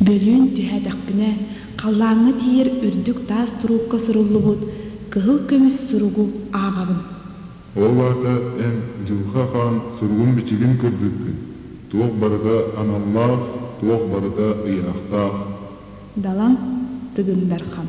Бөлүүн түһээтэхпинэ, халлааҥҥа тиийэр үрдүк таас туруукка суруллубут кыһыл көмүс суругу ааҕабын. Ол аата эн, Дьылха хаан, суругун-бичигин көрбүккүн, туох барыта аналлаах, туох барыта ыйаахтаах. Далан Тыгын Дархан.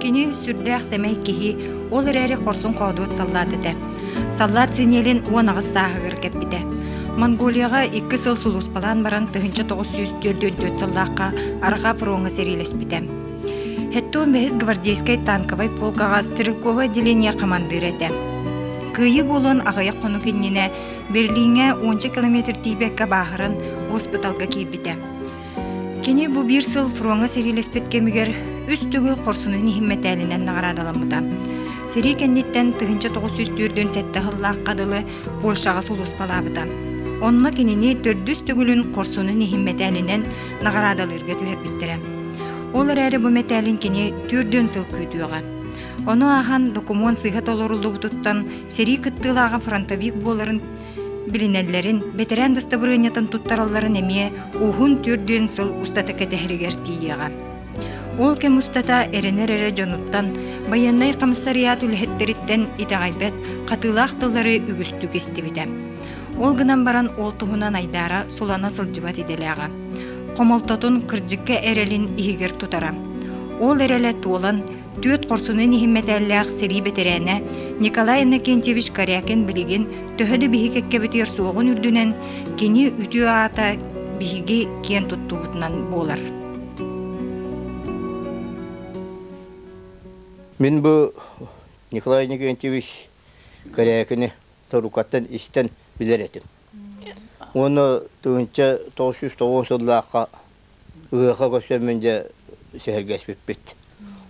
Кини сүрдээх сэмэй киһи, ол эрээри хорсун хоодуот саллаат этэ. Саллаат синиэлин уон аҕыс сааһыгар кэппитэ. Монголияҕа икки сыл сулууспалаан баран тыһыынча тоҕус сүүс түөрт төрт сыллаахха арҕаа фроҥҥа сэриилэспитэ. Хэттэ он бэһис гвардейскай танковай полкаҕа стрелковое отделение хамандыыра этэ. Кыайыы буолуон аҕыйах хонук иннинэ Берлиҥҥэ уонча километр тиийбэккэ бааһыран госпиталга киирбитэ. Кини бу биир сыл фроҥҥа сэриилэспит кэмигэр үс төгүл хорсунун иһин мэтээлинэн наҕараадаламмыта. Сэрии кэнниттэн тыһыынча тоҕус сүүс түөртүн сэттэ сыллаахха дылы Польшаҕа сулууспалаабыта. Онно кинини төрдүс төгүлүн хорсунун иһин мэтээлинэн наҕараадалыырга түһэрбиттэрэ. Ол эрээри бу мэтээлин кини төрдүөн сыл күүтүөҕэ. Ону ааһан докумуон сыыһа толоруллубутуттан сэрии кыттыылааҕа фронтовик буоларын билинэллэрин, бэтэрээн дастабырыанньатын туттаралларын эмиэ уһун түрдүн сыл устата кэтэһэригэр тиийиэҕэ. Ол кэм устата эрэнэр эрэ дьонуттан, байыаннай хамсариат үлэһиттэриттэн итэҕэйбэт хатыылаах тыллары үгүстүк истибитэ. Ол гынан баран ол туһунан айдаара сулана сылдьыбат идэлээҕэ. Хомолтотун кырдьыкка эрэлин иһигэр тутара. Ол эрэлэ туолан Түөрт хорсунун иһин мэтээллээх сэрии бэтэрээнэ Николай Иннокентьевич Корякин билигин төһө да биһи кэккэбитигэр суоҕун үрдүнэн, кини үтүө аата биһиги киэн туттуубутунан буолар. Мин бу Николай Никентьевич Корякини торукаттан истэн билэр этим. Уонна тыһынча тоғыз сыллаахха ыһыахха көстөммүн дьэ сэһэргэспиппит.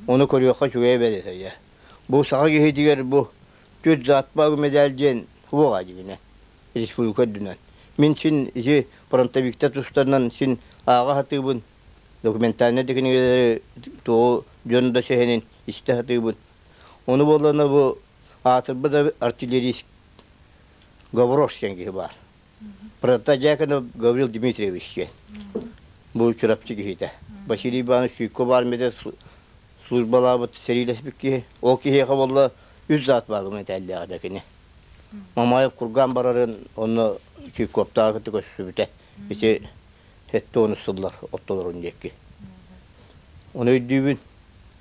Ону көрүөххэ үчүгэй эбит үһүйэ. Бу саха киһитигэр бу Түөрт заатпаах медаль диэн суох дьигинэ республика үрдүнэн. Мин син ити фронтовиктар тустарынан син ааҕа сатыыбын, документальнай технологиялары тоҕу дьон да сэһэнин истэ сатыыбын. Ону буоллана бу аатырбыт артиллерист Гаврош диэн киһи баар. Протодьяконов Гаврил Дмитриевич диэн. Бу Чурапчы киһитэ. Василий Иванович Суйков армията службалаабыт сэриилэспит киһи. Ол киһиэхэ болла үс заат баар гуманитарияга да кини. Мамаев кургаан барарын онно Чуйковтаах кытта көрсүбүтэ. Ити сэттэ он сыллар оттолорун диэки. Оны өйдүүбүн.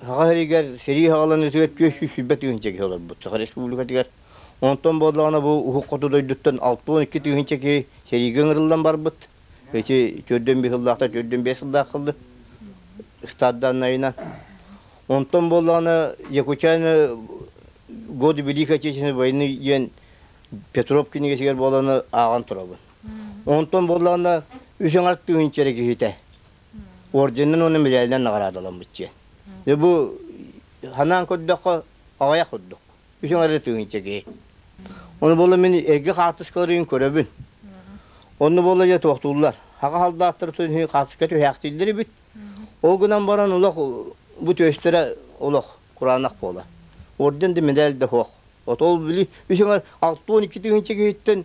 Саха сиригэр сэрии хаҕалан ытыгар түөс сүүс сүүрбэ тыһыынча киһи олорбут Саха Республикатыгар. Онтон буоллаҕына бу Уһук Хоту дойдуттан алта уон икки тыһыынча киһи сэриигэ ыҥырыллан барбыт. Эти төрдөн биэс сыллаахтар төрдөн биэс сыллаах кылды стадданнайынан. Онтон буоллаҕына Якутяны годы Великой Отечественной войны диэн Петров кинигэтигэр буоланы ааҕан турабын. Онтон буоллаҕына үс аҥар тыһыынча эрэ киһитэ орденынан уонна медальынан наҕараадаламмыт диэн. Бу санаан көрдөххө аҕыйах курдук. Үчүн арыт тыгынча киһи. Ону буола мин эргэ хаартыскаларын көрөбүн. Онну буола дьэ туохтууллар. Хаҕа халдааттар түһүн хаартыска түһээхтииллэр эбит. Ол гынан баран олох бу түөстэрэ олох кураанах буолар. Орден да медаль да суох. От ол били үчүн алты он икки тыгынча киһиттэн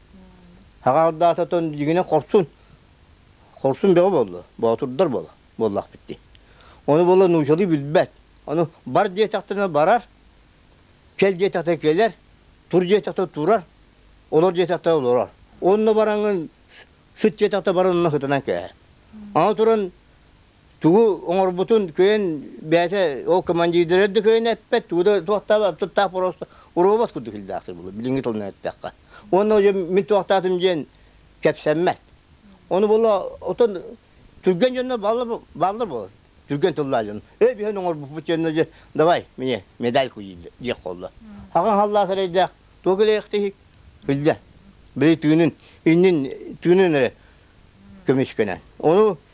Хаҕалдаататан дьигинэ хорсун. Хорсун бөҕө буолла. Боотурдар буола. Буоллахпыт дии. Ону буола нуучалыы билбэт. Ону бар диэтэхтэринэ барар, кэл диэтэхтэринэ кэлэр, тур диэтэхтэринэ турар, олор диэтэхтэринэ олорор. Онно бараҥҥын сыт диэтэхтэринэ баран онно ытынан кээһэр. Аны туран Тугу оҥорбутун кыайан бэйэтэ ол командирдары да кыайан эппэт, тугу да туохтаабат, туттаах просто уруобат курдук илдээхтэр булу, билиҥҥи тылынан эттэххэ. Уонна уже мин туохтаатым диэн кэпсэммэт. Ону була отон түргэн дьонно баллар баллар буолар. Түргэн тыллаах дьон. Эй биһэн оҥорбуппут диэнно дьэ давай мне медальку диэх буолла. Хаҕан халлаах эрэйдээх туох илэйэхтиһик билдэ. Били тыынын иннин тыынын эрэ көмүскэнэн. Ону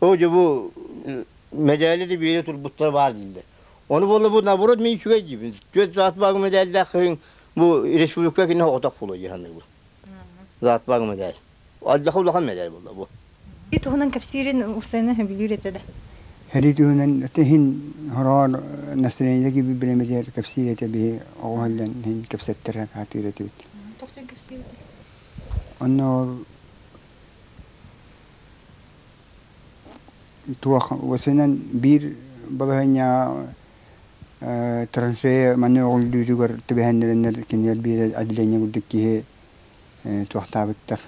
О, дьэ бу мэдээлэ да биэре турбуттара баар дииллэр. Ону буолла бу наоборот мин үчүгэй диибин. Түөрт заат бааҕы мэдээллээх хыйын бу республика кинэ отох була дьаһаныыбын. Заат бааҕы мэдээл. Алдьаха улахан мэдээл буолла бу. Ити туһунан кэпсиирин Усена сөбүлүүр этэ да. Һэрии түһүнэн иһин хороон настроение gibi bilemediğer кэпсиир этэ биһи оҕо һаллан иһин кэпсэттэрэ хаатыыр этибит. Тоҕчон кэпсиир этэ. Онно ол Туох уосунан биир балаһыанньаҕа э, трансфер манна өҕүллүүтүгэр түбэһэннэрэннэр кинилэр биир отделение курдук киһи э, туохтаабыттар.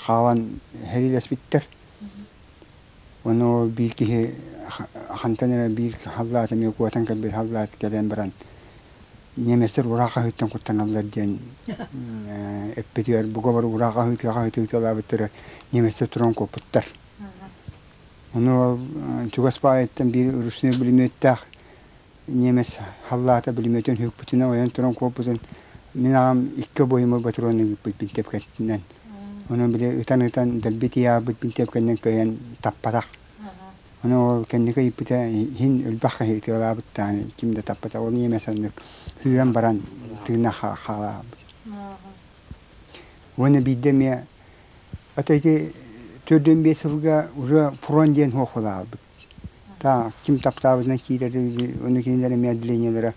Хаалан иһэриилэспиттэр. Ону биир киһи хантан эрэ биир халлаат эмиэ куотан кэлбит халлаат кэлэн баран немецтэр ураа хаһыыттан куттаналлар диэн эппитигэр буговар ураа хаһыытыы хаһыытыы ыталаабыттара немецтэр туран куоппуттар. Ону чугас баайыттан биир ручной пулеметтаах немец халлаата билиметин хүкпүтүнэн ойон туран куоппутун мин аҕам икки обоюма ботуруон ыыппыт бинтиэпкэтинэн онон били ытан ытан дэлби тиийаабыт бинтиэпкэнэн кыайан таппатах ону ол кэнники ыйыппыта иһин өлбөх киһи ытыалаабыттаан ким да таппата ол немец аннык сүүрэн баран тыына хаалаабыт уонна биирдэ эмиэ оттон ити төрдүн биэс сылга уже фронт диэн хуохулаабыт Ким таптаабытынан киирэр онно кинилэр эмиэ отделениелара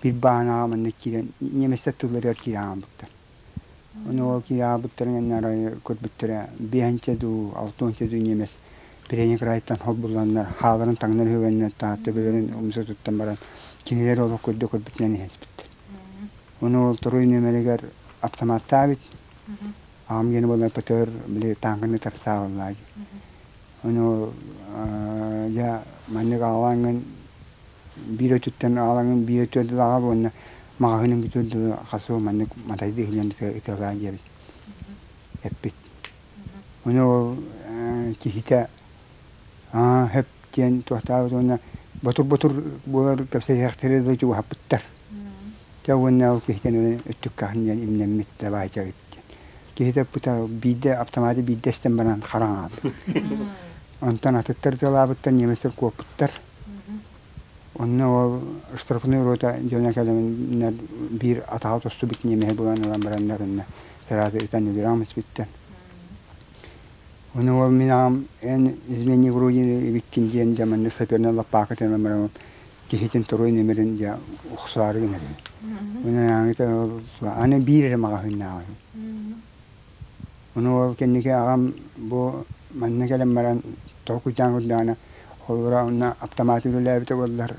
биир бааһынааҕа манна киирэн немецтэр тылларыгар киирэн хаалбыттар. Ону ол киирэн хаалбыттарын иннинэ арай көрбүттэрэ биэһинчэ дуу алта уонча дуу немец передний крайтан холбулланнар хааларын таҥнар үһүгэннэр таһа төбөлөрүн умса туттан баран кинилэр олох көрдө көрбүтүнэн иһэ түспүттэр. Ону ол торуй нүөмэригэр аптамааттаабыт. Аҕам диэн буоллар ПТР били таанканы тарсаабаллаа дии. Ону дьэ маннык аалаҥын биир өтүттэн аалаҥын биир өтүөрдүлэҕэ уонна маҕаһыыным бүтүөр дылы хас сыл маннык матайдыы иһиллэн ытыалаан диэбит эппит. Ону ол киһитэ аа хөп диэн туохтаабыт уонна ботур-ботур буолар кэпсэтиэхтэри дылы чугаһаппыттар. Дьэ уонна ол киһитин өттүккэһин диэн имнэммит да баайга диэн киһитэ ыппыта биирдэ аптамааты биирдэ истэн баран хара аҥаардыы онтон атыттар ыталаабыттар немецтэр куоппуттар онно ол штрафной рота дьонно кэлэминнэр биир атаҕа тостубут ньиэмэһи булан ылан бараннар иннэ сараады ытан өлүрэҕим испиттэн ону ол мин аҕам эн измени вроде ибиккин диэн дьэ маннык саперный лаппаакытынан баран киһитин туруй ньимирин дьэ уксаары гынар үһү. Ынааҥыта ол аны биир эрэ маҕаһыыннааҕа үһү. Ону ол кэнники аҕам бу манна кэлэн баран тоҕо кучаан курдаҕына холборо онно аптамаат үлэлээбитэ буоллар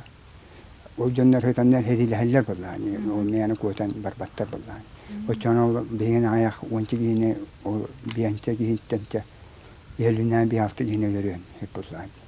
ол дьоннор сытаннар сэриилэһэллэр буоллаҕа ол мээнэ куотан барбаттар буоллаҕа. Оччоҕуна ол биһигин аҕыйах уонча киһини ол биэнсэ киһиттэн тэ иһэлинэ биир-алта киһини өлөрүөн сөп буоллаҕа.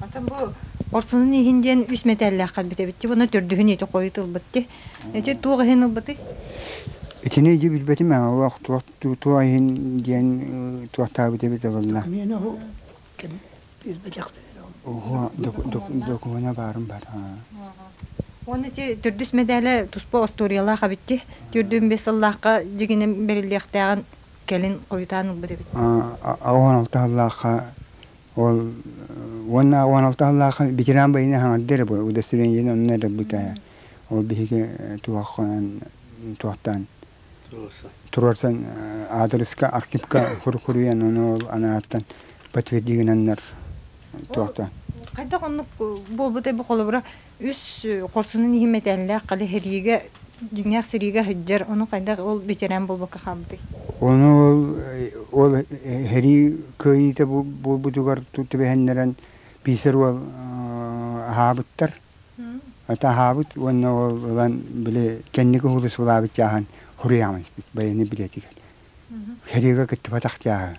Атын бу Орсунун иһин диэн үс мэтээллээххэр бүтэбитти уонна төрдүһүн ити хойут ылбытты. Эти туох иһин ылбыты? Итини иди билбэтим ана олох туо иһин диэн туоттаабыт эбит ылынна. Мен оһу ким билбэтэхтэрин Ого, докумена барын бар. Оны ти төрдүс медале туспа историялаах абитти. Төрдүн бес аллахка дигинем бериллиэхтээҕин кэлин қойтаан ылбыт эбит. Аон алта аллахка Ол уонна уон алта сыллаах ветеран байыны хаҥырды эрэ бу удостоверениені онно эрэрбит ээ. Ол биһиги туһаххынан туохтан туруорсан аадырыска архивка курукуруйан ону ол анааттан подтвердигананнар туохтан хайдах оннук буолбутай бу холобура үс хорсунун иһин мэтээллээх хали сэриигэ дьиҥҥээх сэриигэ сылдьар ону хайдах ол бэчэрээн буолбакка хаалбытый Ону ол, ол сэрии кыайыыта буолбутугар түбэһиннэрэн биисэр уол аһаабыттар. Ата аһаабыт уонна ол ылан били кэнники уулуссалаабыт чааһын хоруйааман испит байыаннай билиэтигэр. Сэриигэ кыттыбатах чааһы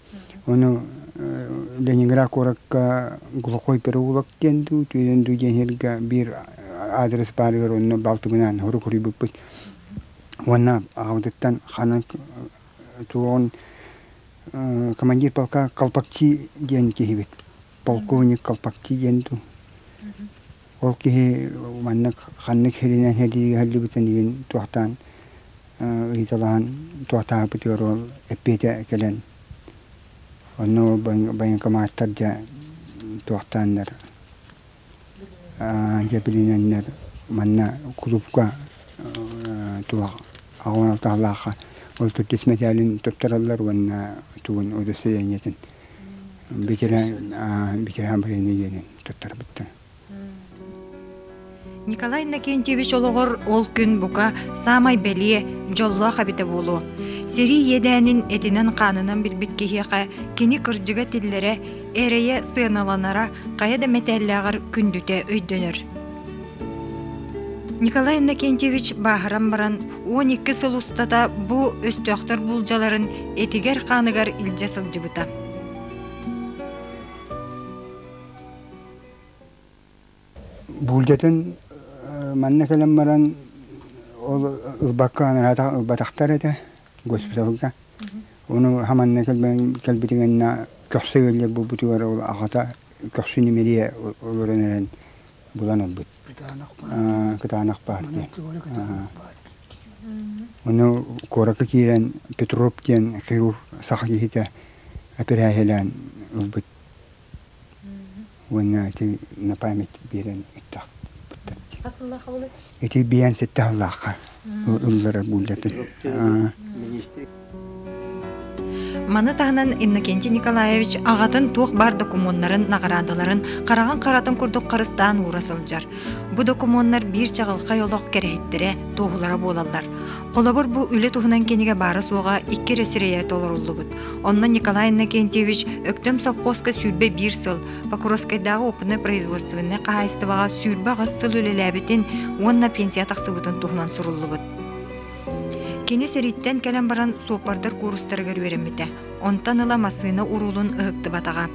Ону Ленинград куоракка Глухой переулок диэн дуу, түүнүн дуу диэн сиргэ биир аадырыс баарыгар онно балтыбынаан сорук уруйбуппут. Уонна аҕабытыттан ханан туоҕун командир полка Колпакчи диэн киһибит, полковник Колпакчи диэн дуу. Ол киһи маннык ханнык сиринэн сэлиигэ сылдьыбытын иһин туохтаан ыйыталаһан туохтаахпыт ыаруо эппиэтэ кэлэн онно военкоматтар дьэ туохтааннар дьэбилинэннэр манна кулуупка туох аҕа алтаһалаахха отут үс мэтээлин туттараллар уонна тугун удостоверениетын битирэ битирэ бойобуйа диэнин туттарбыттар Николай Иннокентьевич олоҕор ол күн бука саамай бэлиэ, дьоллоох эбитэ буолуо. Сэрии иэдээнин этинэн-хаанынан билбит киһиэхэ кини кырдьыга тиллэрэ, эрэйэ сыаналанара хайа да мэтээллээҕэр күндүтэ өйдөнөр. Николай Иннокентьевич бааһыран баран он икки сыл устата бу өстөөхтөр буулдьаларын этигэр-хааныгар илдьэ сылдьыбыта. Буулдьатын манна кэлэн баран ол ылбакка ылбатахтар этэ госпиталга. Ону хаманна кэлбитин инна көхсө ыаллар буолбутугар ол аҕата көхсү ньимирийэ олорон эрэн булан ылбыт. Кытаанах партия. Ону куоракка киирэн Петроп диэн хирург саха киһитэ эпэрээһилээн ылбыт. уонна ити на память биэрэн ыттаахпыттар дии. Ити биээн ситэ аһыллаахха ыллара буллатын. Маны таһынан Иннокентий Николаевич аҕатын туох баар докумуоннарын, наҕараадаларын хараҕын харатын курдук харыстаан уура сылдьар. Бу докумуоннар биир чаҕылхай олох кэрэһиттэрэ, туоһулара буолаллар. Холобур, бу үлэ туһунан кинигэ баара-суоҕа икки эрэ сирэйэ толоруллубут. Онно Николай Иннокентьевич Өктөм совхозка сүүрбэ биир сыл, Покровскайдааҕы уоппунай-производственнай хаһаайыстыбаҕа сүүрбэ аҕыс сыл үлэлээбитин уонна пенсия тахсыбытын туһунан суруллубут. Кини сэрииттэн кэлэн баран суоппардар куурустарыгар үөрэммитэ. Онтон ыла массыына уруулун ыһыктыбатаҕа.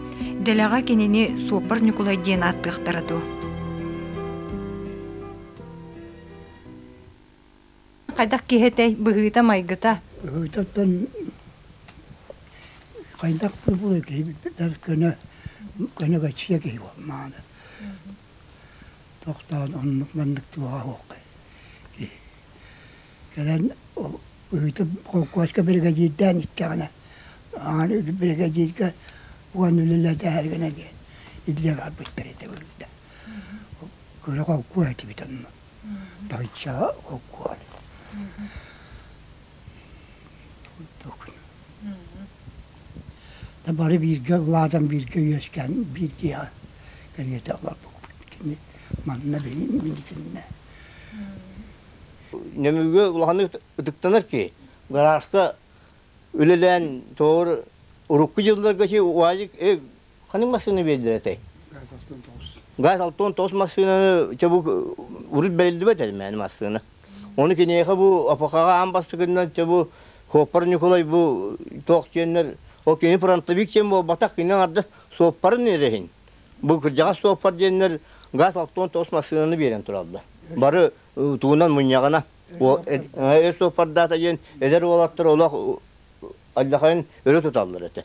Дэлэҕэ кинини суоппар Ньукулай диэн ааттыахтара дуо? Хайдах киһи этэй быһыыта-майгыта? Быһыытыттан хайдах пупуруй киһи билбэттэр көнө көнөгөччүйэ киһи буол мааны. Тохтоон оннук маннык туоҕа суох киһи. Кэлэн быһыыта холкуоска биригэдьиирдээн иттэҕинэ аан биригэдьииргэ уон үлэлэтэһэргинэ диэн иллэ барбыттар ити быһыыта. Кыра холкуос этибит онно. Бачча огуол курдук. Да бары бииргэ улаатан бииргэ үөскээн биирдиэ кэриэтэ олорбуппут кини манна минитиннэ. Нөмүгө улаханнык ытыктанар ки гарааска үлэлээн тоҕор урукку дьылларга чи уайык э Ханнык массыына биэрдэр этэй? Газ Алтон тоҕус массыынаны чабу урут бэриллибэт этэ мээнэ массыына. Ону киниэхэ бу АПХ-ҕа аан бастакынан чабу Хуоппар Ньукулай бу туох диэннэр ол кини фронтовик диэн буолбатах кининэн арды суоппарын иэрэһин бу кырдьаҕас суоппар диэннэр Газ Алтон тоҕус массыынаны биэрэн тураллар. Бары э, тугунан мунньаҕына эр суоппардаата диэн эдэр уолаттар олох э, аллахайын өрө туталлар этэ.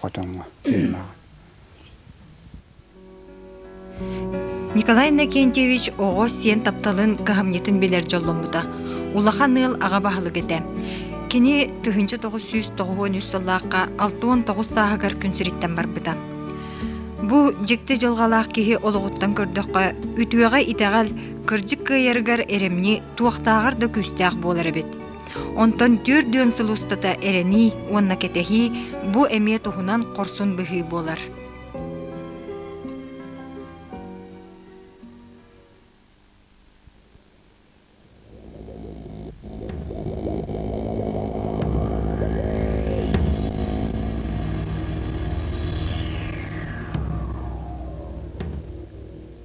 хотоҥҥо Николай Иннокентьевич оҕо сиэн тапталын кыһамньытын билэр дьолломмута. Улахан ыал аҕа баһылык этэ. Кини тыһыынча тоҕус сүүс тоҕуһуон үс сыллаахха алта уон тоҕус сааһыгар күн сириттэн барбыта. Бу дьикти дьылҕалаах киһи олоҕуттан көрдөххө, үтүөҕэ-итэҕэл, кырдьык кыайарыгар эрэмньи, туохтааҕар да күүстээх буолар эбит. Онтон түөрт дүөн сыл устата эрэнии уонна кэтэһии бу эмиэ туһунан хорсун быһыы буолар.